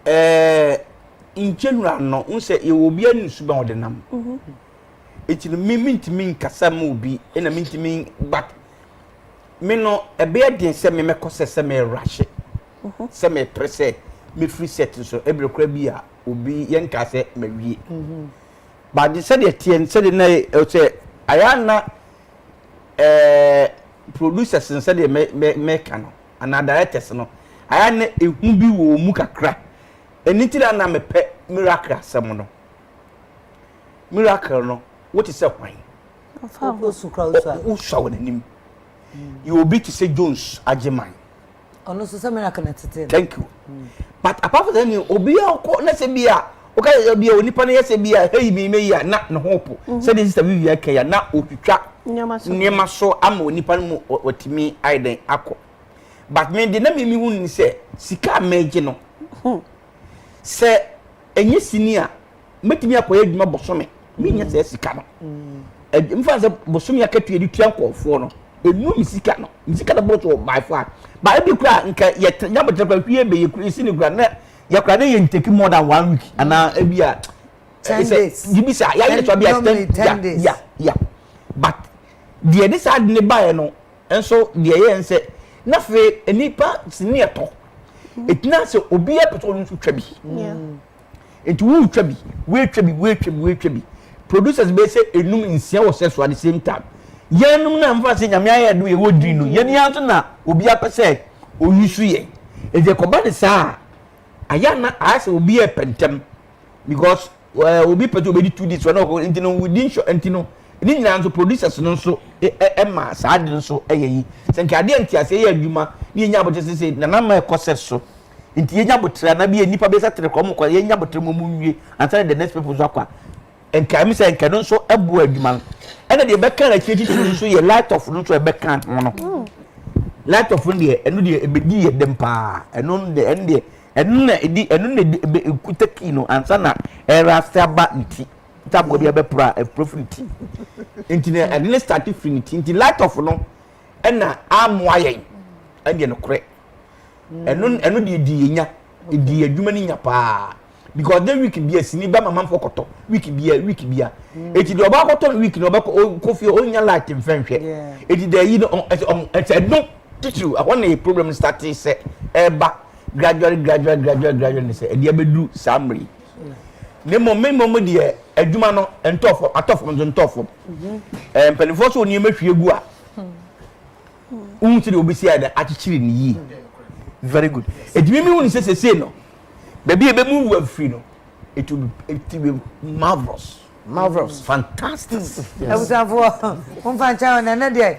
ɛɛ nkyɛnwura no n sɛ yɛwɔ obi ani nsu bɛn ɔde nam ɛti no me mentumi nkasa ma obi ɛna mentumi but me no ɛbɛyɛ den sɛ me mɛkɔ sɛ sɛ mɛrahye sɛ mɛpere sɛ mɛfiri set so ɛberɛ kora bi a obi yɛnkaa sɛ mawie but de sɛdeɛ teɛ no sɛdeɛ na sɛ ayɛ na ɛɛ producers no sɛdeɛ mɛka no anaa directors no ayɛ a na ehu bi wɔ wɔn mu kakra. Ɛno nti na na mepɛ miracle asɛm no. Miracle no, wote sɛ hwan? Wosua wɔn anim. Yɛ obi te sɛ Jones Agyeman. Ɔno nso sɛ miracle na ɛtetee no. Thank you. but apart from that ni obi a ɔkɔ na sɛ bi a ɔka yɛ bi a onipa no yɛ sɛ bi a heyi mi meyi a na ne ho po mhm. sɛdeɛ sista bi wia kɛya na ɔtwitwa nneɛma so ama onipa no mu ɔtumi ayɛ dɛn akɔ but me de na mi mi hu ni sɛ sika a mɛgye no hmm. sɛ ɛnyɛ sini a mɛtumi akɔyɛ adwuma bosome menyɛ sɛ sika no mfa sɛ bosome akatua de tua nkɔɔfoɔ no ɛnu me sika no me sika no bɔtɔ by far ba ebi kora nka yɛtena nyabotrɛ kora hwie bɛ yɛkura ɛsi ne kora na yɛkora ne yɛ ntaki more than one week anaa ebi a bibi sa yɛayɛ so abia ten days ya ya but deɛ de saa de ne baeɛ no nso deɛ yɛ nsɛ na fei nnipa sini ɛtɔ ɛtina sɛ obi apɛ sɛ ɔno nso twa bi Nti woretwa bi, woretwa bi, woretwa bi, woretwa bi. Producers bɛyɛ sɛ enum nsia wɔ sɛ so at the same time. Yɛnom na mfa sɛ nyame ayɛ do yɛwɔ diri no, yɛn ara nso na obi apɛ sɛ ɔyusu yɛn. Nti ɛkɔba ne saa a, ayɛ a na ayɛ sɛ obi repɛ ntɛm because eh, obi pɛ sɛ obɛdi two days, ɔno ɔkɔ nti no within short nti no ne nyinaa nso producers no nso ɛ- ɛ- ɛma saa de no nso ɛyɛ yi. Sɛ nka adeɛ nteaseɛ yɛ adwuma ne yɛnya abɔkyɛ sɛ sɛ nana ma ɛkɔ sɛ so nti yɛnya aboterɛ anaa bi a nnipa bɛsa tere kɔ wɔn kɔ yɛnya aboterɛ mu wɔn nwie ansa na the next people nso akɔ a nka ɛmi sɛ nka no nso ɛboa adwuma no ɛna deɛ ɛbɛka no akyire titiri nso yɛ light off no nso ɛbɛka ho no mm. light off no deɛ ɛno deɛ ɛbɛdi yɛ dɛm paa ɛno deɛ ɛno deɛ ɛno na ɛdi ɛno na ɛdi ɛbɛ ɛkuta kii no ansa na ɛra ase aba ne ti ntaboa bi abɛpora ɛpora firi ne ti nti na ɛde ne start firi ne ti nti light off no. ɛna amoa yɛn ɛnyɛ nokorɛ ɛno ɛno deɛ di yɛn nya di adwuma no nya paa because de week bia sini ba mama fo kɔtɔ week bia week bia mm. eti de ɔba kɔtɔ week na ɔbɛ kɔ fie ɔnya light nfɛnhwɛ eti de yi no ɛsɛ ɔmo ɛsɛ ɛno titiriw ɛhɔ na problem start sɛ ɛba gradually gradually gradually gradually sɛ ɛde abɛduru saa mmiri. Na mmom, me mmom deɛ adwuma no ntɔ fam, atɔ fam nso ntɔ fam. Ɛɛ mpanimfoɔ so nneɛma hwie gu a, wohu sɛ deɛ wɔbɛsi ayɛ dɛ akyekyere ne yie. Very good. Ɛtumi mi hu ne sɛ sesei no, baabi a ɛbɛmu wu afiri no, it will be, it will be marvelous. Marvelous. Fantastic. Abusuafoɔ, momfa nkyɛn hɔ na ɛnɛ deɛ